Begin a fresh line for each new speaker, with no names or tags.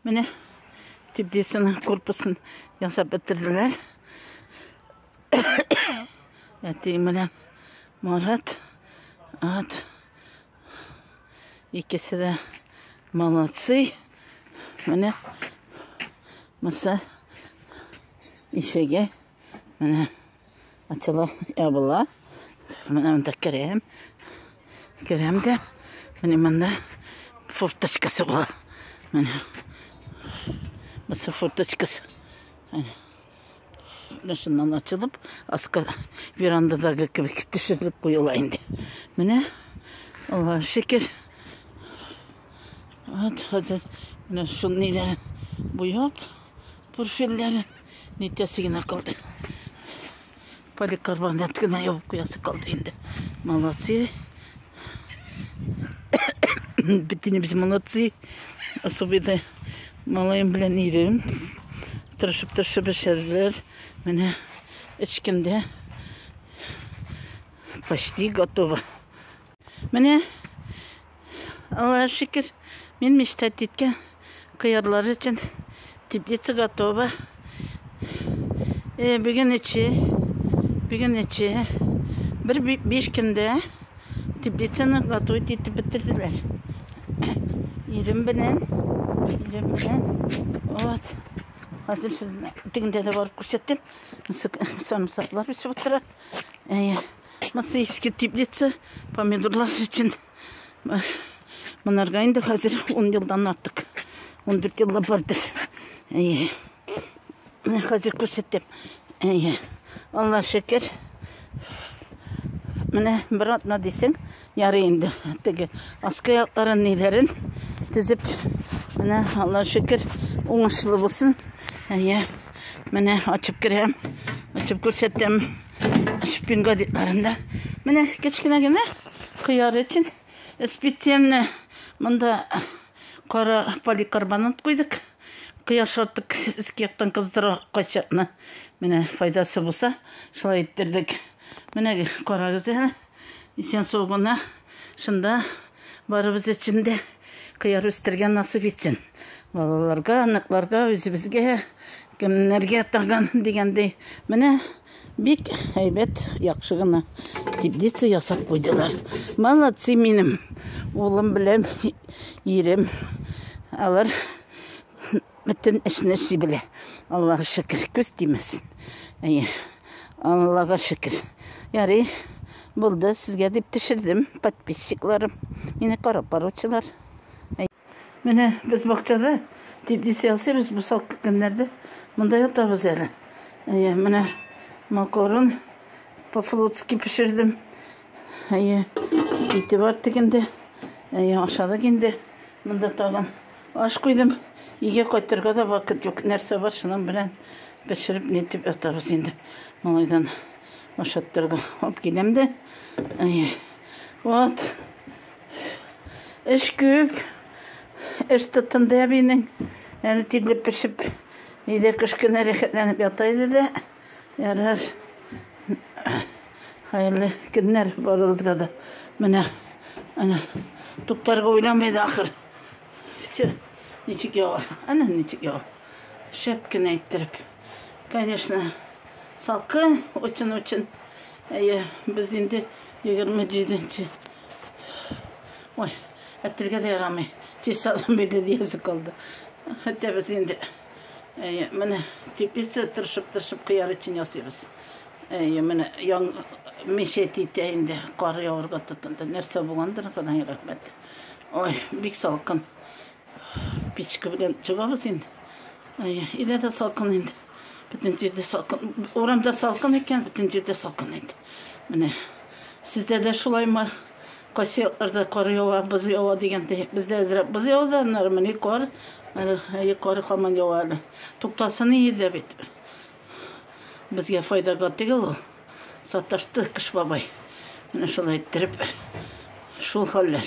Менә теплицаның корпусын ясап бетерделәр. Әти менә Марат, ат. Икесе дә молодцы. Менә маса ишеге Менә ачыла, ябыла. Менә монда керәм. Керәм дә, менә монда форточкасы була. Менә. Мысы форточкасы. Менә. Менә шуннан ачылып, аска верандадагы кебек төшерелеп куела инде. Менә, Аллаһ шөкер. Вот, хәзер менә шуны ниләр буяп, Пурфельләре нитәсе генә калды. Поликарбонат кына ябып куясы калды инде. Молодцы. Битенебез молодцы. Особенно малаем белән ирем. Тырышып-тырышып эшләделәр. Менә эчкемдә почти готово. Менә, Алла шикер, мин мечтать диткән кыярлар өчен теплица готова. Э, бүген эче, бүген эче. Бер биш көндә теплицаны готовить итеп бетерделәр. Ирем белән, ирем белән. Вот. Хәзер сезне тегендә дә барып күрсәтәм. Сарымсаклар үсеп утыра. Әйе. Мысы иске теплица, помидорлар өчен. Монарга инде хәзер 10 елдан артык. 14 елда бардыр. Әйе. Менә хәзер күрсәтәм. Әйе. Алла шөкер. Менә бер атна дисең, Ярый инде, теге аскы якларын, ниләрен тезеп, менә Алла шөкер, уңышлы булсын. Әйе, менә ачып керәм, ачып күрсәтәм. Шпин гадитларында. Менә кечкенә генә кыяр өчен специально монда кара поликарбонат куйдык. Кыяр шартык иске яктан кыздыра кайчакны. Менә файдасы булса, шулай иттердек. Менә карагыз әле. Исән сау гына шунда барыбыз өчен дә кыяр үстергә насып итсен. Балаларга, аныкларга, үзебезгә, кемнәргә тагын дигәндәй. Менә бик әйбәт, яхшы гына теплица ясап куйдылар. Молодцы минем улым белән ирем. Алар Бөтен эшне эшли белә. Аллага шөкер, күз тимәсен. Әйе. Аллага шөкер. Ярый. Булды, сезгә дип төшердем, подписчикларым. Мине карап баручылар. Менә без бакчада теплиц ясыйбыз бу салкы көннәрдә. Монда ятабыз әле. Әйе, менә макарон по-флотски пешердем. Әйе, ите бар тегендә. Әйе, ашадык инде. Монда тагын аш куйдым. Өйгә кайтырга да вакыт юк. Нәрсә бар, шуның белән пешереп нитеп ятабыз инде. Малайдан ашаттырга алып киләм дә. Вот. Эш күп. Эш тотынды әбинең. Әле тилеп пешеп, өйдә кечкенә рәхәтләнеп ята иде дә. Ярар. Хәерле көннәр барыгызга да. Менә ана туктарга уйламый да ахыр. Все. Ничек ява. Ана ничек ява. Шәп кенә иттереп. Конечно, салкын очень очень. Әйе, без инде 27-нче. Ой, әтергә дә ярамый. Тиз салам бирде диясе калды. Хәтта без инде Әйе, менә теплица тырышып-тырышып кыяр өчен ясыйбыз. Әйе, менә яң мишәт итә инде, кар явырга тотынды. Нәрсә булгандыр, Ходай рәхмәт. Ой, бик салкын. Печка белән чыгабыз инде. Әйе, илә дә салкын инде. Бөтен җирдә салкын. Урамда салкын икән, бөтен җирдә салкын инде. Менә сездә дә шулаймы? Кайсы якларда кар ява, боз ява дигәндәй, бездә әзрәк боз яуды, аннары менә кар, әле кар хаман ява әле. Туктасын иде дә бит. Безгә файдага түгел ул. Саташты Кыш бабай. Менә шулай иттереп, шул хәлләр.